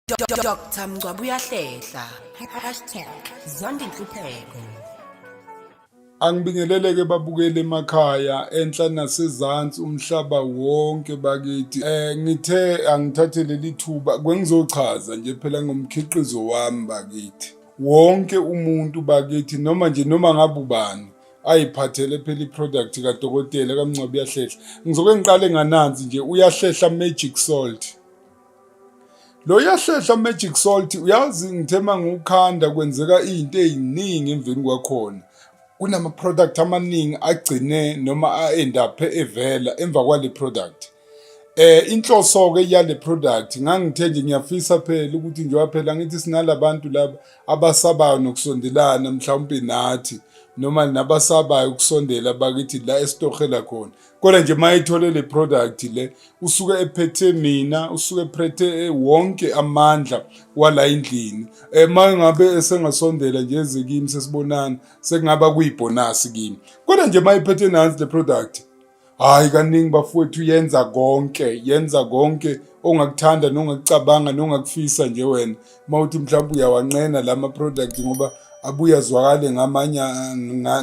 Dr Mngcwabo uyahlehla #zondinhlupheko Angibingeleleke babukele emakhaya enhla nasezansi umhlaba wonke bakithi eh ngithe angithathe leli thuba kwengizochaza nje phela ngomkhiqizo wami bakithi wonke umuntu bakithi noma nje noma ngabe ubani ayiphathele phela iproduct kadokotela kamncwabi uyahlehla ngizoke ngiqale ngananzi nje uyahlehla magic salt Lo yahlehla magic salt uyazi ngithe mangiwukhanda kwenzeka izinto eziningi emveni kwakhona kunama product amaningi agcine noma aend up evela emva kwale product eh inhloso ke yale product ngangithe nje ngiyafisa phela ukuthi njengoba phela ngithi sinalabantu laba abasabayo nokusondelana mhlawumbe nathi noma nabasabayo ukusondela bakithi la esitohela khona kodwa nje uma ethole le product le usuke ephethe mina usuke ephethe eh, wonke amandla wala endlini uma eh, ngabe esengasondela nje eze kimi sesibonana sekungaba kuyibhonasi kimi kodwa nje uma ephethe nansi le product hayi kaningi bafowethu yenza konke yenza konke ongakuthanda nongakucabanga nongakufisa nje wena uma uthi mhlawumbe uyawanqena la ma-product ngoba abuye azwakale ngamanye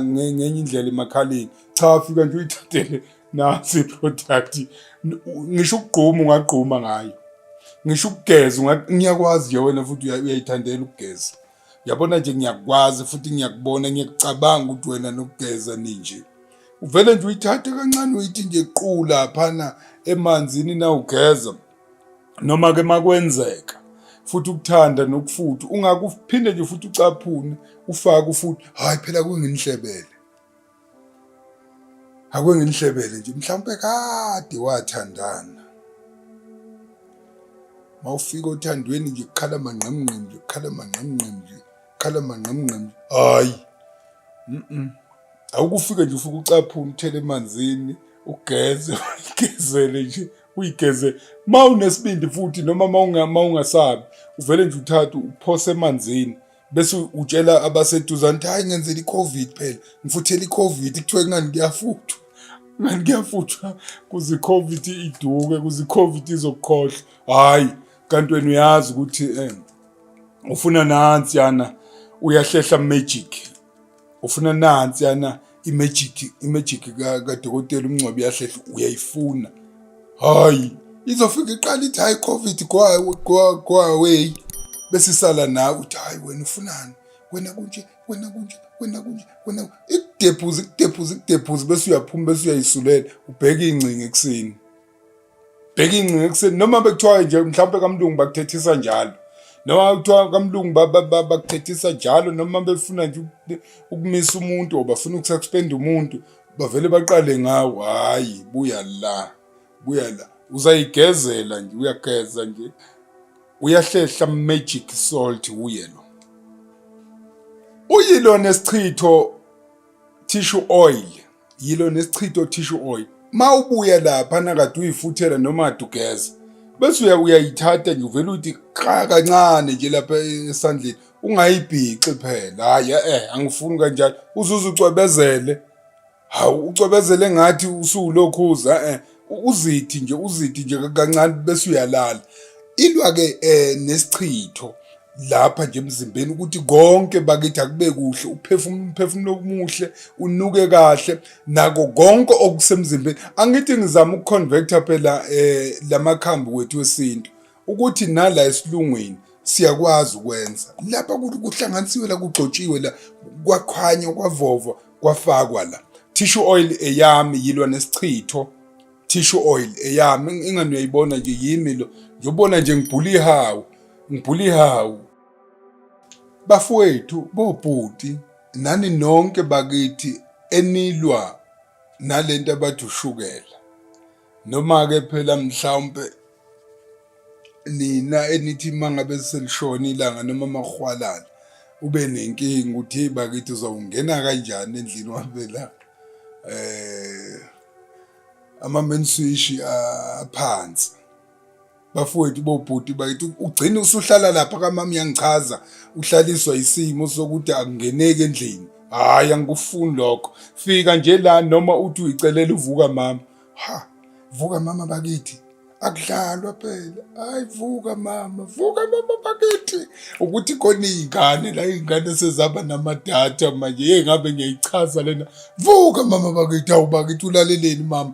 ngenye indlela emakhaleni cha afika nje uyithathele nasi product ngisho ukugquma ungagquma ngayo ngisho ukugeza ngiyakwazi nje wena futhi uyayithandela ukugeza yabona nje ngiyakwazi futhi ngiyakubona ngiyacabanga ukuthi wena nokugeza ninje uvele nje uyithathe kancane uyithi nje qu laphana emanzini nawugeza noma ke makwenzeka futhi ukuthanda nokufutha ungakuphinde nje futhi ucaphune ufake ufuthi hayi phela kunginhlebele Ake nginihlebele nje mhlawumpe kade wathandana. Mawufika othandweni nje kukhala mangqemngqem nje kukhala mangqemngqem nje kukhala mangqemngqem. Hayi. Mhm. Awukufike nje ufuke ucaphuna uthele emanzini ugeze uyigezele nje uyigeze mawunesibindi futhi noma mawungasabi uvele nje uthathe uphose emanzini bese utshela abaseduzane ukuthi hhayi ngenzela i-covid phela ngifuthela i-covid kuthiwe kungani kuyafuthwa ngani kuyafuthwa kuze i-covid iduke kuze i-covid izokukhohlwa hhayi kanti wena uyazi ukuthi um ufuna nansiyana uyahlehla magic ufuna nansi yana imejiki imejiki kadokotela umngcwabi yahlehla uyayifuna hayi izofika iqala ithi hayi covid kwaway bese isala nawe uthi hayi wena ufunani wena kunje wena kunje wena kunje wena ikudephuza ikudephuza ikudephuza bese uyaphuma bese uyayisulela ubheke ingcinga ekuseni bheka ingcinga ekuseni noma bekuthiwa nje mhlawumpe kamlungu bakuthethisa njalo noma kuthiwa kamlungu bakuthethisa njalo noma befuna nje ukumisa umuntu or bafuna ukususpenda umuntu bavele baqale ngawo hhayi buya la buya la uzayigezela nje uyageza nje uyahlehla magic salt uye lo uyilona esichitho tissue oil yilo nesichitho tissue oil ma ubuya lapha nakade uyifuthela noma adugeza bese uya uyayithatha nje uvele uyithi qha kancane nje lapha esandleni ungayibhixi phela hayi eh angifuni kanjalo uzuze ucwebezele hawu ucwebezele ngathi usuwulokhuza eh uzithi nje uzithi nje kancane bese uyalala ilwa ke eh nesichitho lapha nje emzimbeni ukuthi konke bakithi akube kuhle uphefumulo umphefumulo omuhle unuke kahle nako konke okusemzimbeni angithi ngizama ukuconvector phela eh lamakhambi wethu wesintu ukuthi nala esilungwini siyakwazi ukwenza lapha kuhlanganisiwe la kugcotshiwe la kwakhanywa kwavovwa kwafakwa la tissue oil eyami yilwa nesichitho tissue oil eyami ingani uyayibona nje yimi lo ngiyobona nje ngibhula ihawu ngibhula ihawu bafowethu bobhuti nani nonke bakithi enilwa nalento abathi ushukela Noma-ke phela mhlawumpe nina enithi uma ngabe selishona ilanga noma amahwalala ube nenkinga ukuthi hey bakithi uzawungena kanjani endlini wabela eh ama main switch aphansi bafowethu bobhuti bakithi ugcina usuhlala lapha kamama uyangichaza uhlaliswa isimo sokuthi akungeneki endlini hhayi angikufuni lokho fika nje la noma uthi uyicelela uvuka mama ha vuka mama bakithi akudlalwa phela hayi vuka mama vuka mama bakithi ukuthi khona iy'ngane la iy'ngane sezaba namadatha manje ye ngabe ngiyayichaza lena vuka mama bakithi awu bakithi ulaleleni mama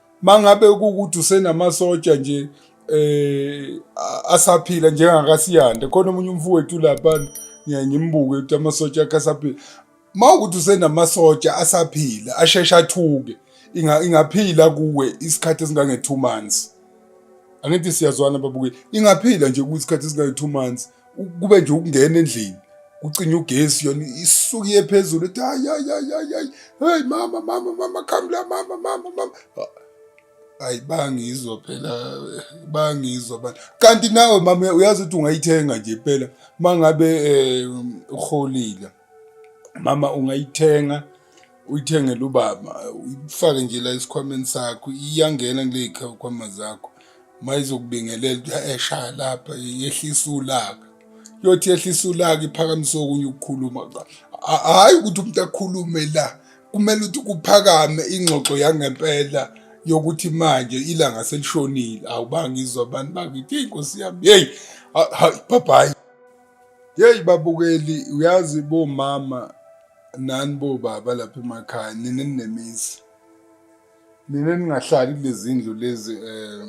mangabe ukuthi usenamasotsha nje eh asaphila njengakasiyanda khona omunye umfowethu lapha ngiyangimbuke ukuthi amasotsha akhe asaphila mawukuthi usenamasotsha asaphila asheshe athuke ingaphila kuwe isikhathi esingange 2 months angithi siyazwana babuke ingaphila nje kuwe isikhathi esingange 2 months kube nje ukungena endlini kucinye ugesi yona isuke iye phezulu ethi hayi hayi hayi hayi hayi hey mama mama mama come la mama mama mama hayi bangizwa phela bangizwa bani kanti nawe mama uyazi ukuthi ungayithenga nje phela mangabe eh uholile mama ungayithenga uyithengele ubaba uyifake nje la esikhwameni sakho iyangena kule khwama zakho uma izokubingelela eshaya lapha yehlisa ulaka yothi yehlisa ulaka iphakamise okunye ukukhuluma hhayi ukuthi umuntu akhulume la kumele ukuthi kuphakame ingxoxo yangempela yokuthi manje ilanga selishonile awubangizwa abantu bakithi inkosi yami yeyi bhabhayi Yeyi babukeli uyazi bomama nani bobaba lapha emakhaya nina ninemizi nina ningahlali kulezindlu lezi eh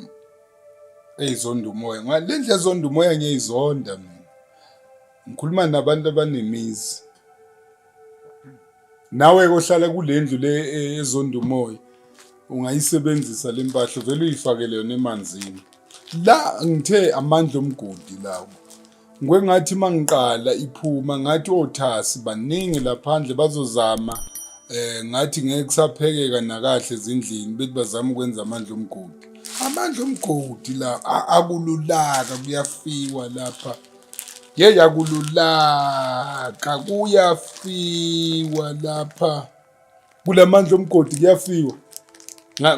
eyizonda umoya ngale ndlela ezonda umoya ngiyayizonda mina ngikhuluma nabantu abanemizi nawe kohlala kule ndlu le e, ezonda umoya ungayisebenzisa le mpahla vele uyifakele yona emanzini la ngithe amandla omgodi lawo ngwengathi uma ngiqala iphuma ngathi othasi baningi laphandle bazozama eh ngathi ngeke kusaphekeka nakahle ezindlini bethi bazama ukwenza amandla omgodi amandla omgodi la akululaka kuyafiwa lapha ye yakululaka kuyafiwa lapha kulamandla omgodi kuyafiwa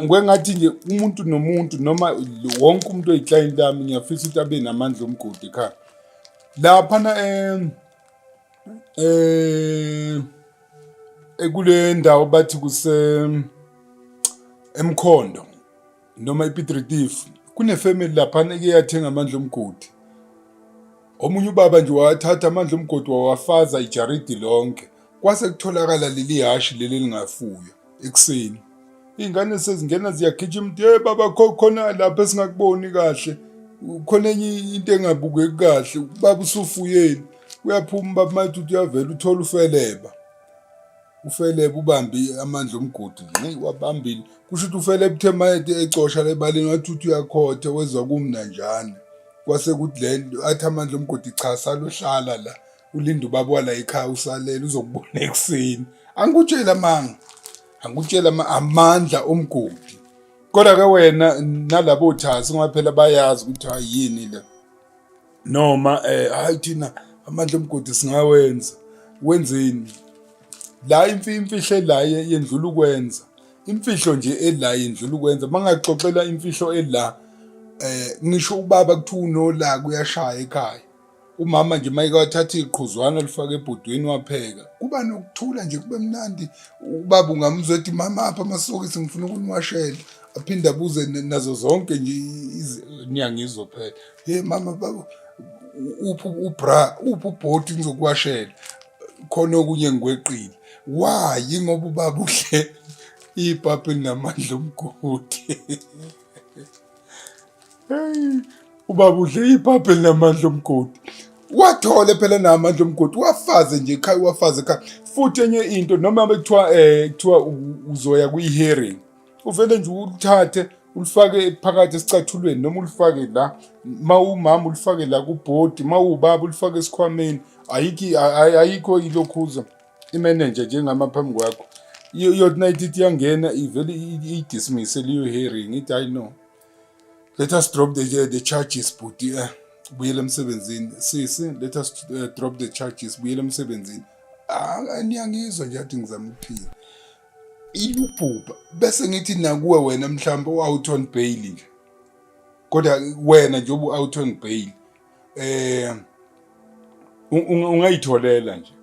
ngwengathi nje umuntu nomuntu noma wonke umuntu oyiclient lami ngiyafisa ukuthi abe namandla omgodi ekhaya laphana um um ekule ndawo bathi kuse emkhondo noma iPiet Retief kunefamily laphana eke yathenga amandla omgodi omunye ubaba nje wathatha amandla omgodi wawafaza ijaridi lonke kwase kutholakala leli hashi leli elingafuywa ekuseni iy'ngane sezingena ziyagijima ukuthi hey baba khona lapho esingakuboni kahle khona enye into engabukeki kahle baba usufuyeni uyaphuma baba mathi uyavela uthola ufeleba ufele ubambi amandla omgodi nxi wabambile kusho ukuthi ufele ebuthe mayede ecosha lebalini wathi uthi uyakhotha wezwa kumnanjana kwase kuthi le athi amandla omgodi cha saluhlala la ulinda ubaba wala ekhaya usalele uzokubona ekuseni angikutshela manga angikutshela amandla omgodi kodwa ke wena nalabo thazi ngoba phela bayazi ukuthi hayi yini le noma eh hayi thina amandla omgodi singawenza wenzeni la imfihlo la yendlula ukwenza imfihlo nje ela yendlula ukwenza mangaxoxela imfihlo ela eh ngisho ubaba kuthiwa unola kuyashaya ekhaya umama nje mayike wathatha iqhuzwana lifaka ebhodweni wapheka kuba nokuthula nje kube mnandi ubaba ungamuzwa ethi mama apha amasokisi ngifuna ukuniwashela aphinde abuze nazo zonke nje niyangizwa phela Hey mama baba uphi ubra uphi ubhoti ngizokuwashela khona okunye ngikweqile why ngoba ubaba uhle ipapi namandla omgodi ubaba udle ipapi namandla omgodi wathole phela namandla omgodi wafaze nje ekhaya wafaze ekhaya futhi enye into noma bekuthiwa um kuthiwa uzoya kwi-hearing uvele nje uluthathe ulifake phakathi esicathulweni noma ulifake la ma umama ulifake la kubhodi ma ubaba ulifake esikhwameni ayikho ayikho ilokhuza imenenja njengama phambi kwakho iyothi nayithi ithi iyangena ivele iyidismisse leyo hearing ithi hayi no let us drop the, the charges bhuti um eh, buyela emsebenzini sisi let us uh, drop the charges buyela emsebenzini ah, niyangizwa nje athi ngizama ukuphila iyubhubha bese ngithi nakuwe wena mhlawumbe u-out on bail nje kodwa wena nje obu-out on bail um ungayitholela nje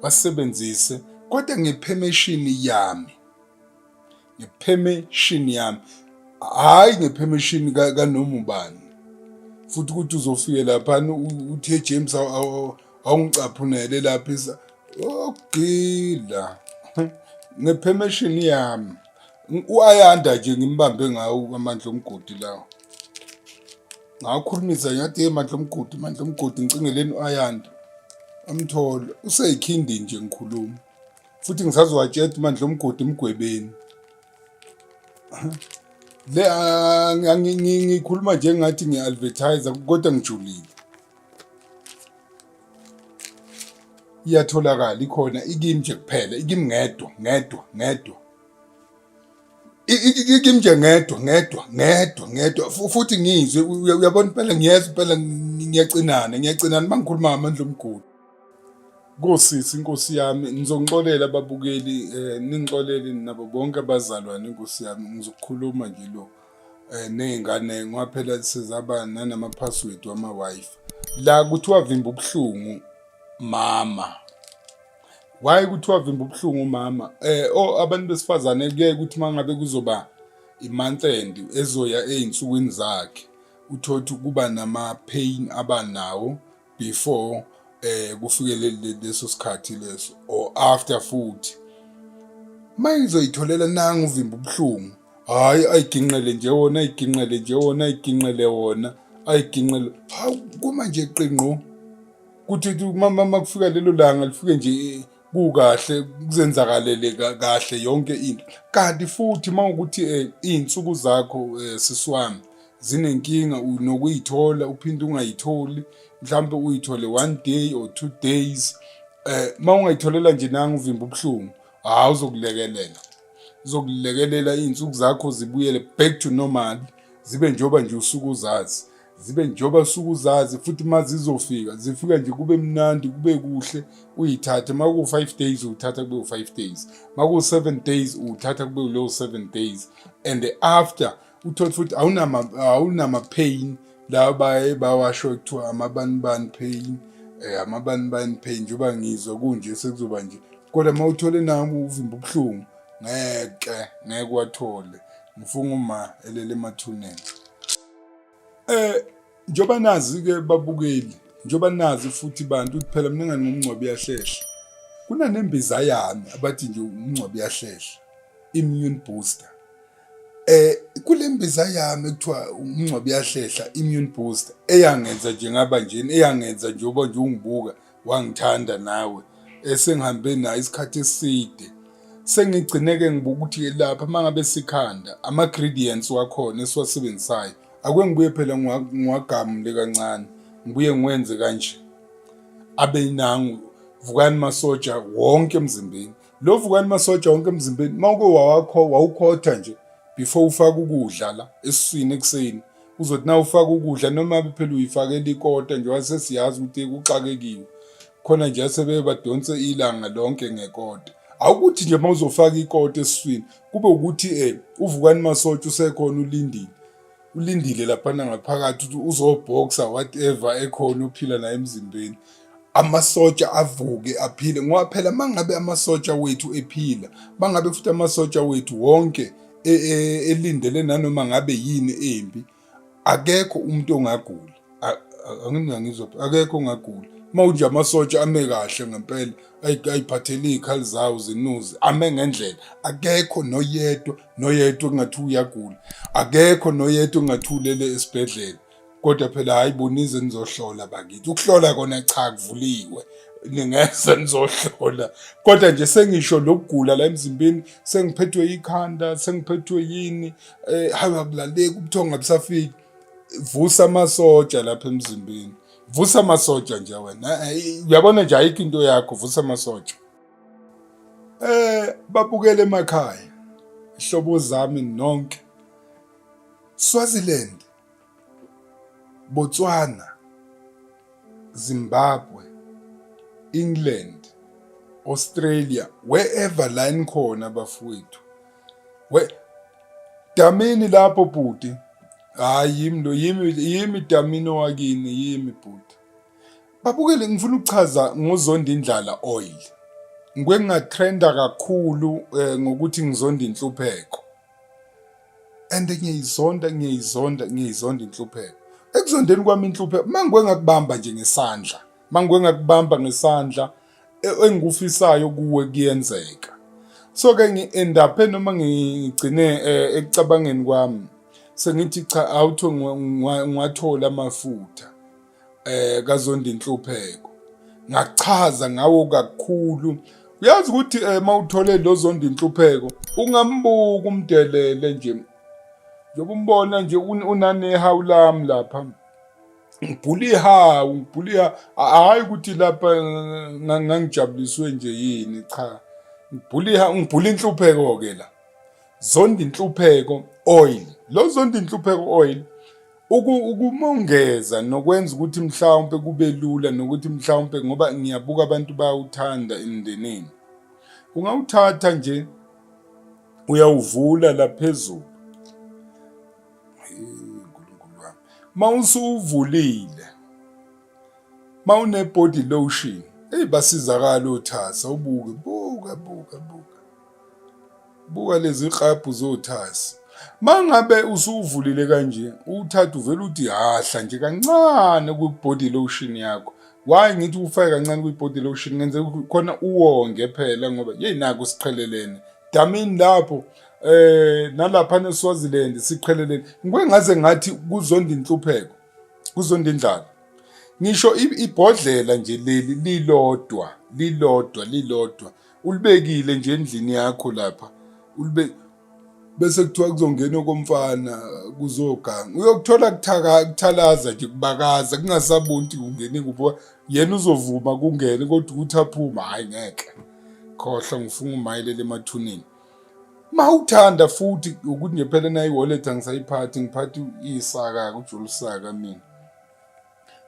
wasebenzise kodwa ngephemeshini yami ngephemeshini yami hhayi ngephemeshini kanoma ubani futhi ukuthi uzofike laphana uthi ejames awungicaphunele lapha isa ogila ngephemeshini yami uayanda nje ngimbambe ngawo amandla omgodi lawo ngakhulumisa ngathi ye mandla omgodi mandla omgodi ngicingeleni uayanda amthole useyikhindi nje ngikhuluma futhi ngisazowatshela mandla omgodi emgwebeni le ah, ngikhuluma njengathi ngiya-advertise kodwa ngijulile iyatholakala ikhona ikimi nje kuphela ikimi ngedwa ngedwa ngedwa ikimi nje ngedwa ngedwa ngedwa ngedwa futhi ngizwe uyabona impela ngiyeza impela ngiyacinana ngiyacinana mangikhuluma ngamandla omgodi Nkosisi inkosi yami ngizonixolela ababukeli eh ningixolele nabo bonke abazalwane inkosi yami ngizokukhuluma nje lo eh, ney'ngane ngoba phela sezaba nanama-password wama-wifi la kuthiwa vimba ubuhlungu mama why kuthiwa vimba ubuhlungu umama eh o oh, abantu besifazane kuye ukuthi mangabe kuzoba imonth end ezoya ezinsukwini zakhe uthothi kuba nama pain abanawo before eh kufike leso sikhathi leso or after futhi mayizoyitholela nangu uvimba ubuhlungu hayi ayiginqele nje wona ayiginqele nje wona ayiginqele wona ayiginqele hawu kuma nje qingqo kuthi mama makufika lelo langa lifike nje kukahle kuzenzakalele kahle yonke into kanti futhi mawukuthi eh, izinsuku zakho eh, siswami zinenkinga nokuyithola uphinde ungayitholi mhlawumbe uyithole one day or two days eh uma ungayitholela nje nanga uvimba ubuhlungu hawu uzokulekelela uzokulekelela iy'nsuku zakho zibuyele back to normal zibe njengoba nje usuke uzazi zibe njengoba usuke uzazi futhi uma zizofika zifika nje kube mnandi kube kuhle uyithathe uma kuwu-five days uwuthatha kube u-five days uma kuwu-seven days uwuthatha kube ulowo seven days and after uthole futhi awunama-pain lawa baye bawasho kuthiwa amabanibani pain um eh, amabanibani pain njengoba ngizwa kunje sekuzoba nje kodwa uma uthole nami uvimba ubuhlungu ngeke ngeke wathole ngifunga uma elele emathuneni eh njoba nazi ke babukeli njoba nazi futhi bantu kuphela mina ngani ngomncwabi uyahlehla kunanembiza yami abathi nje umncwabi uyahlehla immune booster Eh kule mbiza yami ekuthiwa umngcwabo uyahlehla immune booster eyangenza nje ngaba njeni eyangenza njengoba nje ungibuka wangithanda nawe esengihambe nayo isikhathi eside sengigcineke ngibuka ukuthi lapha mangabe sikhanda ama ingredients wakhona esiwasebenzisayo akwengibuye phela ngiwagamule kancane ngibuye ngiwenze kanje abe nangu vukani masoja wonke emzimbeni Lo vukani masoja wonke emzimbeni uma uke wawakho wawukhotha nje before ufaka ukudla la esiswini ekuseni uzothi na ufaka ukudla noma phela uyifakela ikota nje wasesiyazi ukuthi kuxakekiwe khona nje asebeye badonse ilanga lonke ngekota awukuthi nje uma uzofaka ikota esiswini kube ukuthi um uvukani masotsha usekhona ulindile ulindile laphana ngaphakathi ukuthi uzobhoxa whatever ekhona ophila naye emzimbeni amasotsha avuke aphile ngoba phela mangabe amasotsha wethu ephila mangabe futhi amasotsha wethu wonke e, e, elindele nanoma ngabe yini embi akekho umuntu ongagula angimina ngizophi akekho ongagula uma unje amasotsha ame kahle ngempela ayiphathele iy'khali zawo zinuze ame ngendlela akekho noyedwa noyedwa kungathi uyagula akekho noyedwa kungathi ulele esibhedlela kodwa phela hhayi bonize nizohlola bakithi ukuhlola kona cha kuvuliwe ningeza nizohlola kodwa nje sengisho lokugula la emzimbeni sengiphethwe ikhanda sengiphethwe yini eh hayi akulaleki ubuthongo abusafiki vusa amasotsha lapha emzimbeni vusa amasotsha nje wena uyabona nje ayikho into yakho vusa amasotsha eh babukele emakhaya ihlobo zami nonke Swaziland Botswana Zimbabwe England Australia wherever line khona bafowethu we damini lapho bhuti hayi yimi lo yimi yimi damini owakini yimi bhuti babukele ngifuna ukuchaza ngozonda indlala oil ngike ngatrenda kakhulu eh, ngokuthi ngizonda inhlupheko and ngiyizonda ngiyizonda ngiyizonda inhlupheko ekuzondeni kwami inhlupheko mangwe ngakubamba nje ngesandla mangwe ngakubamba ngesandla e-, engikufisayo kuwe kuyenzeka so ke ngi-endaphe noma ngigcine eh, ekucabangeni kwami sengithi cha awutho ngiwathola amafutha eh kazonda inhlupheko ngachaza ngawo kakhulu uyazi ukuthi eh, mawuthole lozonda inhlupheko ungambuka umdelele nje njengoba umbona nje unanehawu lami lapha ngibhuliha ngibhuliha hhayi ukuthi lapha ngangijabuliswe nje yini cha ngibhuliha ngibhula inhlupheko-ke la zonda inhlupheko oil lo zonda inhlupheko oil ukumongeza nokwenza ukuthi mhlawumpe kube lula nokuthi mhlawumpe ngoba ngiyabuka abantu bayawuthanda emndenini ungawuthatha nje uyawuvula laphezulu nkulunkulu wami ma usuwuvulile ma une-body lotion eyi basizakala othasa ubuke buka buka buka buka lezi klabhu zothasa mangabe usuvulile kanje uthatha uvela uthi hahla nje kancane kwi-body lotion yakho why ngithi ufake kancane kwi-body lotion ngenzeka khona uwonge phela ngoba yeyi naku siqhelelene damini lapho eh nalapha neSwaziland siqheleleni ngikwengaze ngathi kuzonda inhlupheko kuzonda indlala ngisho ibhodlela nje leli lilodwa lilodwa lilodwa ulibekile nje endlini yakho lapha ulibe bese kuthiwa kuzongena okomfana kuzoganga uyokuthola kuthaka kuthalaza nje kubakaza kungasabunti kungene kuphi yena uzovuma kungene kodwa ukuthi aphuma hayi ngeke khohlwa ngifunga umayelele emathuneni mawuthanda futhi ukuthi nje phela nayi wallet angisayiphathi ngiphathi isaka kujulisaka mina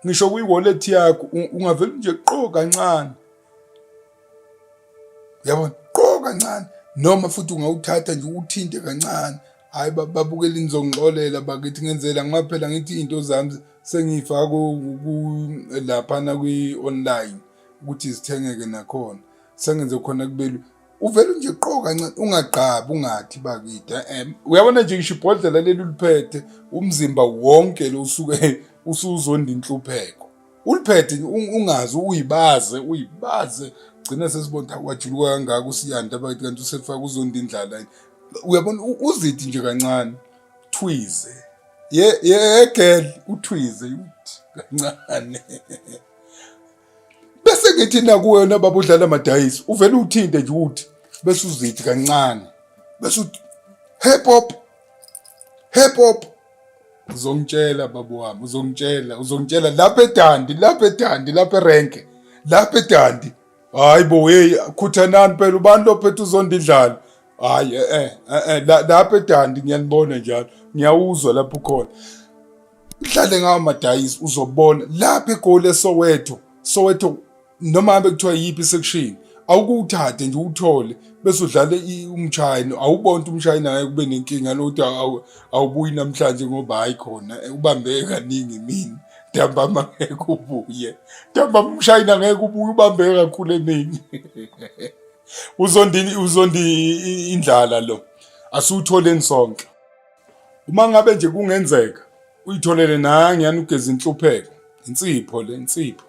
ngisho kwi wallet yakho ungavela nje qo kancane yabona qo kancane noma futhi ungawuthatha nje uthinte kancane hayi babukela inizongixolela bakithi ngenzela ngoba phela ngithi into zami sengiyifaka laphana kwi-online ukuthi zithengeke nakhona sengenze khona kubelula uvele nje qo kancane ungagqabi ungathi bakide eh, uyabona nje ngisho ibhodlela leli uliphethe umzimba wonke lo usuke usuzonda inhlupheko uliphethe ungazi uyibaze uyibaze gcina sesibonda kwajuluka kangaka usiyanda bakithi kanti usefaka uzonda indlala uyabona uzithi nje kancane thwize ye ye girl uthwize kancane bese ngithi nakuwena baba udlala amadayisi uvele uthinte nje ukuthi bese uzithi kancane bese uthi hip hop hip hop uzongitshela baba wami uzongitshela uzongitshela lapha edandi lapha edandi lapha erenke lapha edandi hayi bo hey khuthanani phela ubani lophethe uzonda idlalo hayi eh eh, eh lapha edandi ngiyanibona njalo ngiyawuzwa lapho khona mdlale ngawo madayisi uzobona lapha egoli esowetho sowetho noma hambe kuthiwa yiphi section awukuthathe nje uthole bese udlale umshayini awubona ukuthi umshayini ngeke kube nenkinga lodwa awubuyi namhlanje ngoba hayi khona eh, ubambeke kaningi mina ntambama ngeke ubuye ntambama umshayini angeke ubuye ubambeke kakhulu emini uzondi uzondi indlala lo asutholeni sonke Uma ngabe nje kungenzeka uyitholele nangi yani ugeze inhlupheko insipho le insipho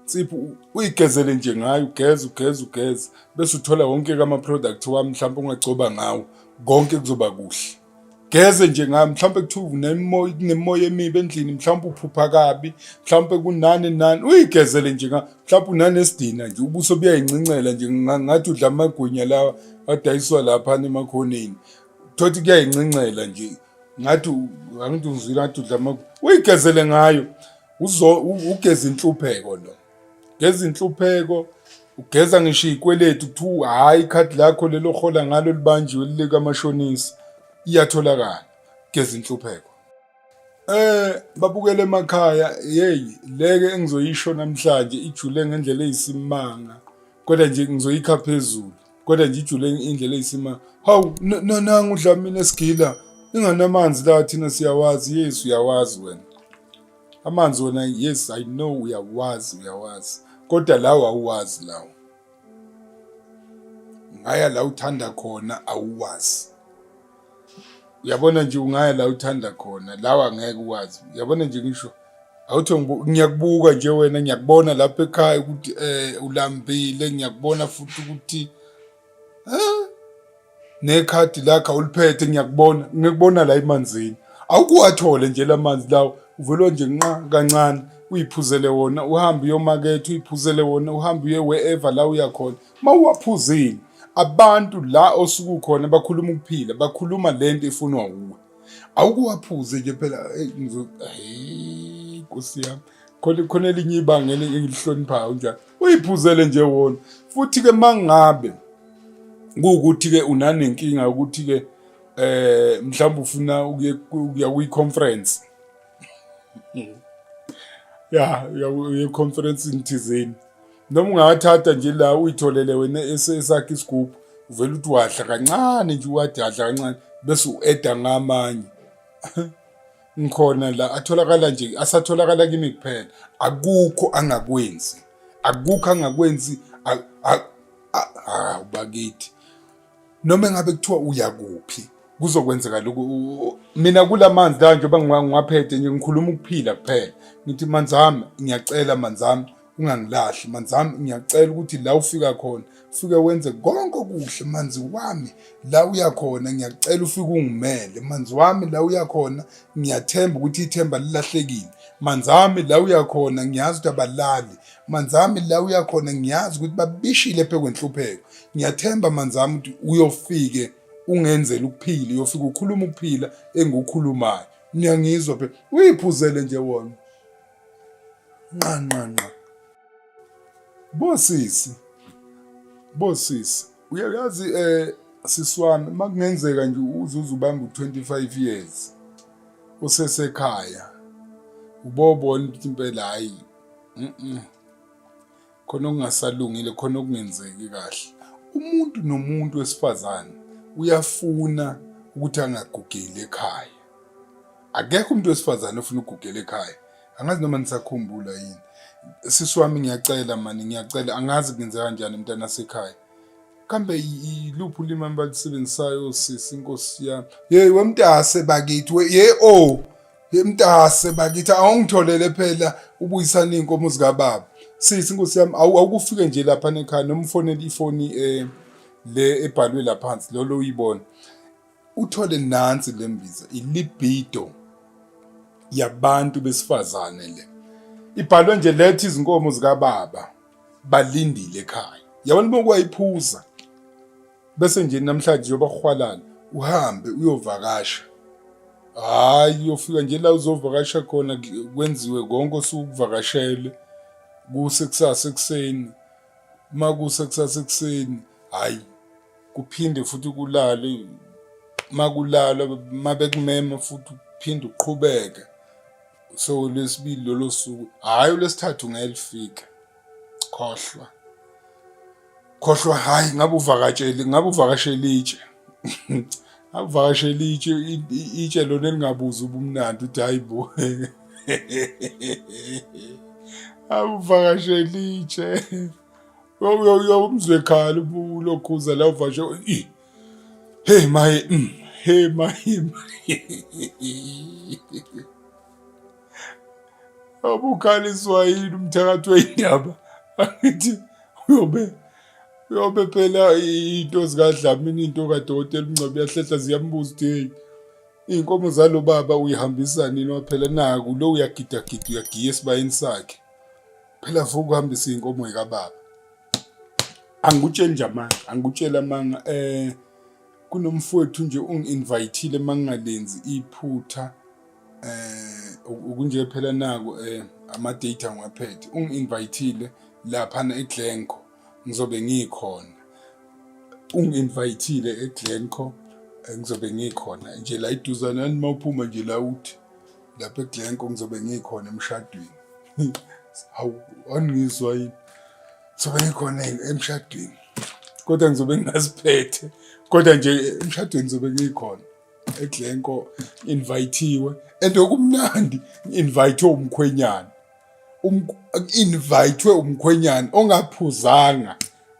insipho uyigezele nje ngayo ugeze ugeze ugeze bese uthola wonke kama product wami mhlawumbe ungagcoba ngawo konke kuzoba kuhle geze nje ngayo mhlawumbe kuthiwa unemoya kunemoya emibi endlini mhlawumbe uphupha kabi mhlawumbe kunani nani uyigezele nje ngayo mhlawumbe unanesidina nje ubuso buyayincencela nje ngathi udla amagwinya lawa adayiswa lapha emakhoneni thothi kuyayincencela nje ngathi angithi uzwile ngathi udlama uyigezele ngayo uzo ugeza inhlupheko lo geza inhlupheko ugeza ngisho ikweletu kuthiwa hhayi ikhadi lakho lelo hola ngalo libanjiwe likamashonisa iyatholakala geza inhlupheko Eh babukele emakhaya hey leke engizoyisho namhlanje ijule ngendlela eyisimanga kodwa nje ngizoyikha phezulu kodwa nje ijule indlela eyisima hawu nananga udlamini esigila inganamanzi la thina siyawazi yes uyawazi wena amanzi wona yes i know uyawazi uyawazi kodwa lawo awuwazi lawo ngaya la uthanda khona awuwazi uyabona nje ungaya la uthanda khona lawa ngeke uwazi uyabona nje ngisho awuthi ngiyakubuka nje wena ngiyakubona lapha ekhaya ukuthi um ulambile ngiyakubona futhi ukuthi nekhadi lakho awuliphethe ngiyakubona ngikubona la emanzini awukuwathole nje la manzi lawo uvelwa nje nqa kancane uyiphuzele wona uhambe uyomaketha uyiphuzele wona uhambe uye wherever la uyakhona Uma uwaphuzile abantu la osuke ukhona bakhuluma ukuphila bakhuluma le nto ifunwa wuwe awukuwaphuze nje phela nkosi yami khona khona elinye ibanga engilihloniphayo njalo uyiphuzele nje wona futhi-ke mangabe kuwukuthi-ke unanenkinga ukuthi-ke eh mhlawumbe ufuna ukuya kwi-conference ya uye conference thizeni noma ungawathatha nje la uyitholele wena esakhe isigubhu uvele uthi wadla kancane nje uwathi adla kancane bese u-eda ngamanye ngikhona la atholakala nje asatholakala kimi kuphela akukho angakwenzi akukho angakwenzi awubakithi noma engabe kuthiwa uya kuphi kuzokwenzeka lokhu mina kula manzi la njengoba ngiwaphethe nje ngikhuluma ukuphila kuphela ngithi manzi ami ngiyacela manzi ami ungangilahli manzi ami ngiyacela ukuthi la ufika khona ufike wenze konke okuhle manzi wami la uya khona ngiyacela ufike ungimele manzi wami la uya khona ngiyathemba ukuthi ithemba lilahlekile manzi ami la uya khona ngiyazi ukuthi abalali Manzami la uyakhona ngiyazi ukuthi babishile phekwenhlupheko ngiyathemba manzami ukuthi uyofike ungenzela ukuphila uyofika ukhuluma ukuphila engukhulumayo niyangizwa phela uyiphuzele nje wona nqanqanqa bosisi bosisi uyayazi eh siswami makungenzeka nje uzuze ubanga u25 years usesekhaya ubobona ukuthi impela hayi khona okungasalungile khona okungenzeki kahle umuntu nomuntu wesifazane uyafuna ukuthi angagugeli ekhaya akekho umuntu wesifazane ofuna ukugugela ekhaya angazi noma nisakhumbula yini sisi wami ngiyacela mani ngiyacela angazi kungenze kanjani mntana sekhaya kambe yiluphi ulimi abalisebenzisayo sisi inkosi yami yeyi wemntase bakithi ye o oh. Yemtase bakithi awungitholele phela ubuyisana izinkomo zika baba. Sisi inkosi yami awukufike nje lapha nekhaya noma ufonele ifoni eh le ebhalwe la phansi lolo uyibona. Uthole nansi lembiza ilibido yabantu besifazane le. Ibhalwe nje lethi izinkomo zika baba balindile ekhaya. Yabona uma kwayiphuza bese nje namhlanje yobakhwalala uhambe uyovakasha hhayi uyofika nje la uzovakasha khona kwenziwe konke osuke ukuvakashele kuse kusasa ekuseni uma kuse kusasa ekuseni hhayi kuphinde futhi kulale uma kulala uma bekumema futhi uphinde uqhubeke so lwesibili lolo suku hhayi olwesithathu ngeke lifike khohlwa khohlwa hayi ngabe uvakatsheli ngabe uvakashela itshe ngabe uvakashela itshe itshe lona elingabuza ubumnandi uthi hayi bo awuvakashela itshe umzwe khala ulokhuza la uvashe hey maye mm, hey maye abukhaliswa yini umthakathi weyindaba angithi uyobe uyobe phela into zikadlamini into kadokotela umngcwabi yahlehla ziyambuza ukuthi heyi iy'nkomo zalo baba uyihambisa nini waphela naku lo uyagidagida uyagiya esibayeni sakhe phela futhi ukuhambisa iy'nkomo yikababa angikutsheli nje amanga angikutsheli amanga um kunomfowethu nje ungi-invayithile uma ngingalenzi iphutha eh ukunje phela naku eh ama data ngiwaphethe ungi invitele lapha na eGlenco ngizobe ngikhona ungi invitele eGlenco eh, ngizobe ngikhona nje la iduzana yani mawuphuma nje la uthi lapha eGlenco ngizobe ngikhona emshadweni hawu angizwa yini sobe ngikhona emshadweni kodwa ngizobe ngingaziphethe kodwa nje emshadweni ngizobe ngikhona eGlencoe invithiwe and okumnandi invitwe umkhwenyana um, invitwe umkhwenyana ongaphuzanga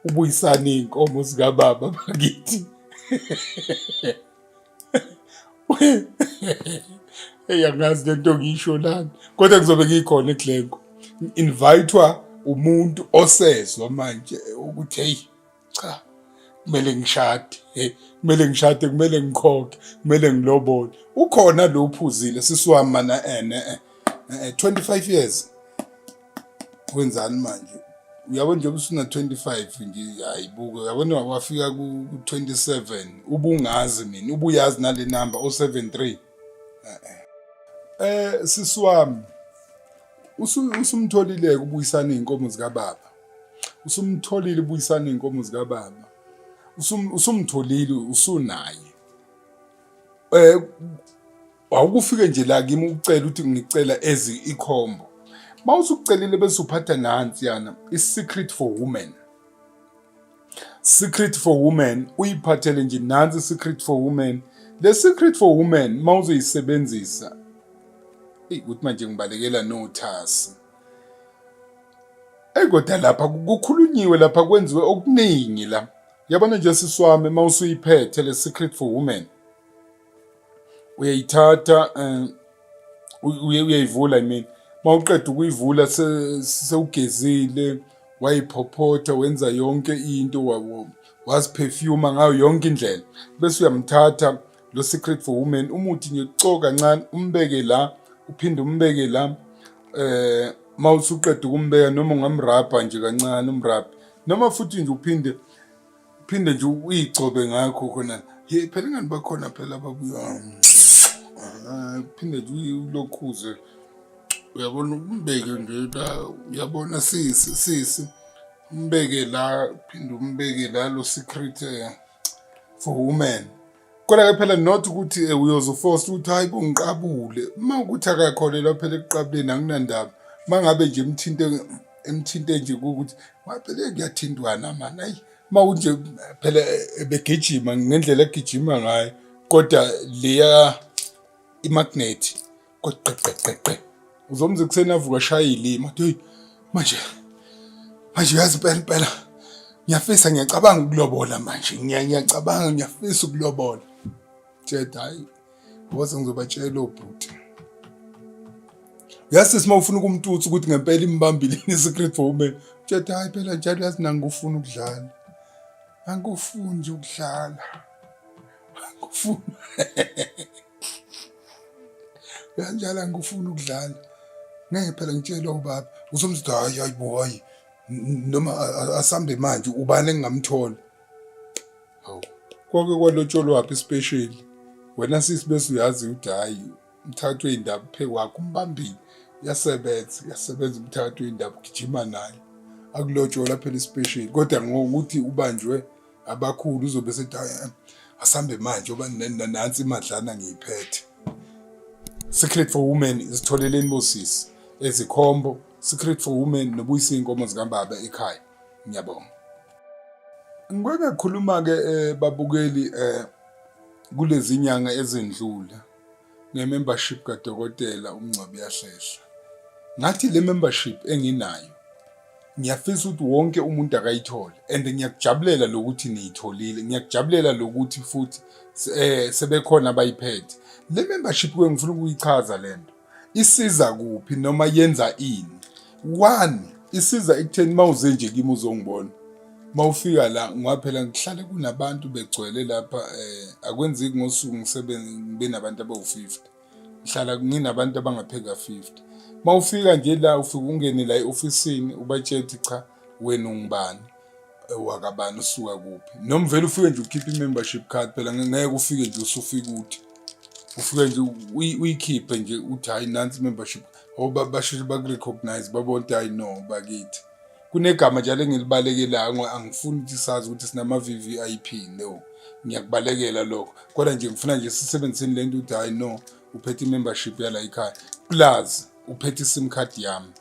ubuyisana inkomo zika baba bakithi eyangazi lento ngisho lana kodwa kuzobe ngikhona eGlencoe invitwa umuntu osezwa manje ukuthi hey cha kumele ngishade hey kumele ngishade kumele ngikhokhe kumele ngilobole ukhona lo uphuzile sisiwami mana ene 25 eh, eh, years wenzani manje uyabo njengoba usuna 25 nje hayibuke uyabona wafika ku 27 ubungazi mina ubuyazi nale number o 73 eh sisiwami usumtholile ukubuyisana izinkomo zika baba usumtholile ubuyisana inkomo zika baba usum usumtholile usunaye eh awukufike nje la kimi ucela ukuthi ngicela ezi ikhombo mawusucelile bese uphatha nansi yana i secret for women secret for women uyiphathele nje nansi secret for women le secret for women mawuzoyisebenzisa ukuthi manje ngibalekela nothasi eyi kodwa lapha kukhulunyiwe lapha kwenziwe okuningi la yabona nje sisi wami uma usuyiphethe le secret for women uyayithatha um uyayivula i mean uma uqeda ukuyivula sewugezile wayiphophotha wenza yonke into waziphefyuma ngayo yonke indlela bese uyamthatha lo secret for women umuthi nje ucoka kancane umbeke la uphinde umbeke la eh mawusuqeda ukumbeka noma ungamrabha nje kancane umrabhe noma futhi nje uphinde uphinde nje uyigcobe ngakho khona hey phela ingani bakhona phela ababuya ah, uphinde nje ulokhuze uyabona umbeke nje la uyabona sisi sisi umbeke la uphinde umbeke la lo secret eh for women kodwa ke phela not ukuthi eh, uyozofosta ukuthi hayi bongiqabule uma ukuthi akakholelwa phela ekuqabuleni anginandaba uma ngabe nje emthinte emthinte nje ukuthi ngaphele kuyathintwana mani ayi uma kunje phela eh, begijima ngendlela egijima ngayo kodwa leya imagnethi kweqeqeqeqe uzomza ekuseni avuka shaya ilima athi hey manje manje uyazi impela impela ngiyafisa ngiyacabanga ukulobola manje ngiyacabanga ngiyafisa ukulobola jeda hayi ngoze ngizobatshela obhuti yazi sima ufuna ukumtutsa ukuthi ngempela imbambile ni secret for women jeda hayi phela njalo yazi nangikufuna ukudlala angikufuni nje ukudlala angikufuni kanjalo angikufuni ukudlala ngeke phela ngitshelwa ubaba usomzitha hayi hayi bo hayi noma asambe manje ubani engingamthola hawu kwake kwalotsholwaphi isipesheli wena sisi bese uyazi ukuthi hhayi umthathu wey'ndaba phe kwakho umbambile uyasebenza uyasebenza umthathu wey'ndaba ugijima naye akulotshola phela isipesheli kodwa ngokuthi ubanjwe abakhulu uzobe esethi "Ay, asambe manje oba nansi imadlana ngiyiphethe secret for women isitholeleni bosisi ezikhombo secret for women nobuyisa iy'nkomo zikambaba ekhaya ngiyabonga ngike ngakhuluma-ke um babukeli um kulezi nyanga ezendlula ngemembership kadokotela uMngcwabi Yahlehla. Ngathi le membership enginayo ngiyafisa ukuthi wonke umuntu akayithole and ngiyakujabulela lokuthi niyitholile ngiyakujabulela lokuthi futhi eh sebekhona abayiphethe le membership ke ngifuna ukuyichaza lento isiza kuphi noma yenza ini one isiza ekutheni uma uze nje kimi uzongibona uma ufika la ngoba phela ngihlale kunabantu begcwele lapha um akwenzeki ngosuku ngisebenzi ngibe nabantu abawu-fifty ngihlala nginabantu abangapheka fifty uma ufika nje la ufike ungene la e-ofisini ubatshela ukuthi cha wena ungubani wakabani usuka kuphi noma vele ufike nje ukhiphe i-membership card phela ngeke ufike nje usufike uthi ufike nje uyikhiphe nje uthi hhayi nansi i-membership card Oh, ba- basheshe bakurecognize babona ukuthi hayi no bakithi kunegama njalo engilibalekelayo ngo- angifuni ukuthi sazi ukuthi sinama-vvip no ngiyakubalekela lokho kodwa nje ngifuna nje sisebenziseni le nto ukuthi hayi no uphethe i-membership yala ikhaya plus uphethe i-sim card yami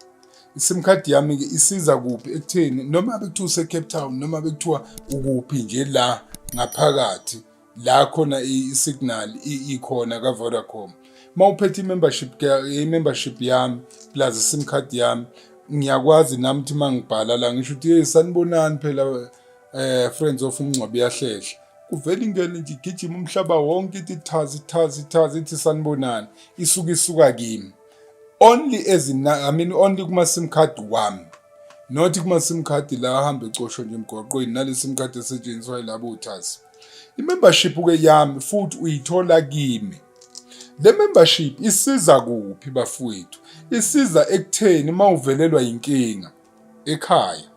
i-sim card yami-ke isiza kuphi ekutheni noma bekuthiwa use-cape town noma bekuthiwa ukuphi nje la ngaphakathi la khona i-signal ikhona ka-vodacom uma uphethe i-membership i-membership yami plus i-sim card yami ngiyakwazi nami ukuthi uma ngibhala la ngisho ukuthi yeyi sanibonani phela um friends of umngcwabi yahlehla kuvele ingene nje igijima umhlaba wonke ithi thazi thazi thazi ithi sanibonani isuke isuka kimi only as in, I mean only kuma sim card wami not kuma sim card la ahamba ecosho nje emgwaqweni nale sim card esetshenziswa yilabo thazi Imembership ke yami futhi uyithola kimi. Le membership isiza kuphi bafowethu? Isiza ekutheni uma uvelelwa yinkinga ekhaya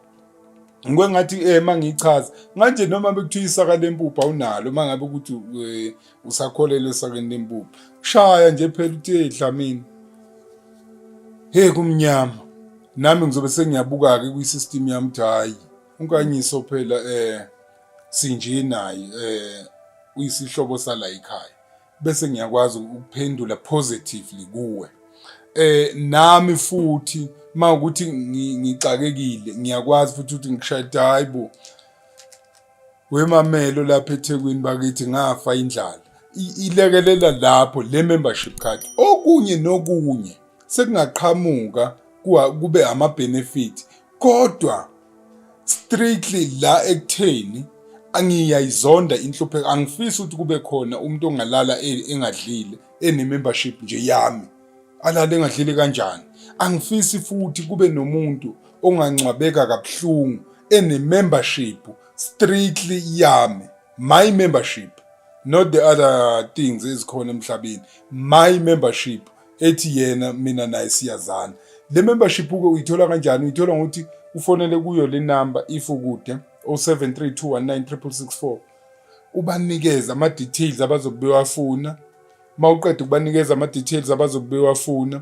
ngike ngathi eh mangichaza nganje noma bekuthiwa isaka lempuphu awunalo mangabe ukuthi eh, usakholelwe esakeni lempuphu shaya nje phela uthe dlamini hey kumnyama nami ngizobe sengiyabuka ke kwi system yami ukuthi hayi unkanyiso phela eh sinje naye eh uyisihlobo sala ekhaya bese ngiyakwazi ukuphendula positively kuwe eh nami futhi mawukuthi ngixakekile ngiyakwazi futhi ukuthi ngishayde hayibo wemamelo lapha eThekwini bakithi ngafa indlala ilekelela lapho le membership card okunye nokunye sekungaqhamuka kube ama benefit kodwa strictly la ekutheni angiyayizonda inhlupheko angifisi ukuthi kube khona umuntu ongalala e, engadlile ene-membership nje yami alale engadlile kanjani angifisi futhi kube nomuntu ongangcwabeka kabuhlungu ene-membership strictly yami my membership not the other things ezikhona emhlabeni my membership ethi yena mina naye siyazana le membership uke uyithola kanjani uyithola ngokuthi ufonele kuyo le number if ukude 0732196664 ubanikeza ama details abazobe bewafuna mawuqeda ukubanikeza ama details abazobe bewafuna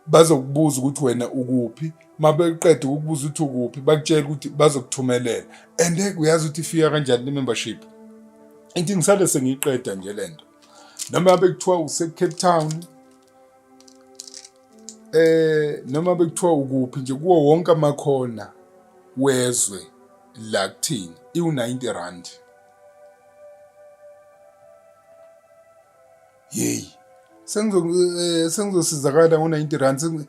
bazokubuza ukuthi wena ukuphi mabeqeda ukubuza ukuthi ukuphi bakutshela ukuthi bazokuthumelela and uyazi ukuthi ifika kanjani le membership inkingisale sengiyiqeda nje lento noma ngabe kuthiwa usecape town eh noma bekuthiwa ukuphi nje kuwo wonke amakhona wezwe la kuthini iwu-90 rand yeyi eh, sengizosizakala ngo-90 rand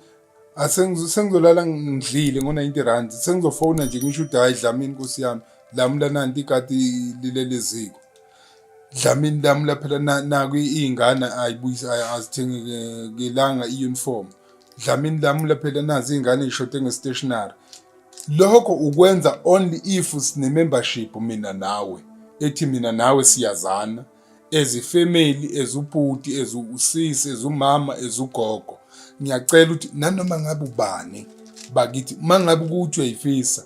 ah, sengizolala ngidlile ngo-90 rand sengizofona nje ngisho uthi hhayi dlamini nkosi yami lamula nanti ikati lileleziko Dlamini lami laphela naku iy'ngane azithengelanga i-uniform. Dlamini lami laphela nazi iy'ngane y'shode nge-stationary. Lokho ukwenza only if sine-membership mina nawe ethi mina nawe siyazana as ifamily as ubhuti as usisi as umama as ugogo ngiyacela ukuthi nanoma ngabe ubani bakithi uma ngabe ukuthi uyayifisa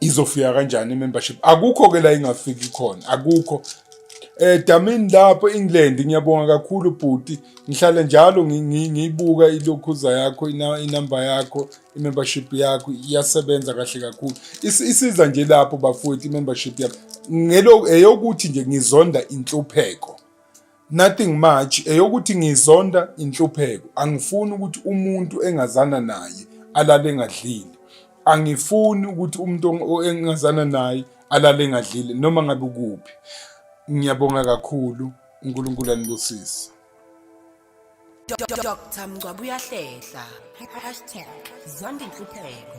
izofika kanjani i-membership akukho ke la ingafiki khona akukho eh damini lapho England ngiyabonga kakhulu bhuti ngihlale njalo ngiyibuka ilokhuza yakho inamba yakho i-membership yakho iyasebenza kahle kakhulu isiza nje lapho bafowethu i-membership yakho ngelokuthi nje ngizonda inhlupheko Nothing much eyokuthi ngizonda inhlupheko. Angifuni ukuthi umuntu engazana naye alale engadlile. Angifuni ukuthi umuntu engazana naye alale engadlile noma ngabe ukuphi. Ngiyabonga kakhulu uNkulunkulu anibusise. Dr Mngcwabe uyahlehla #zondinhlupheko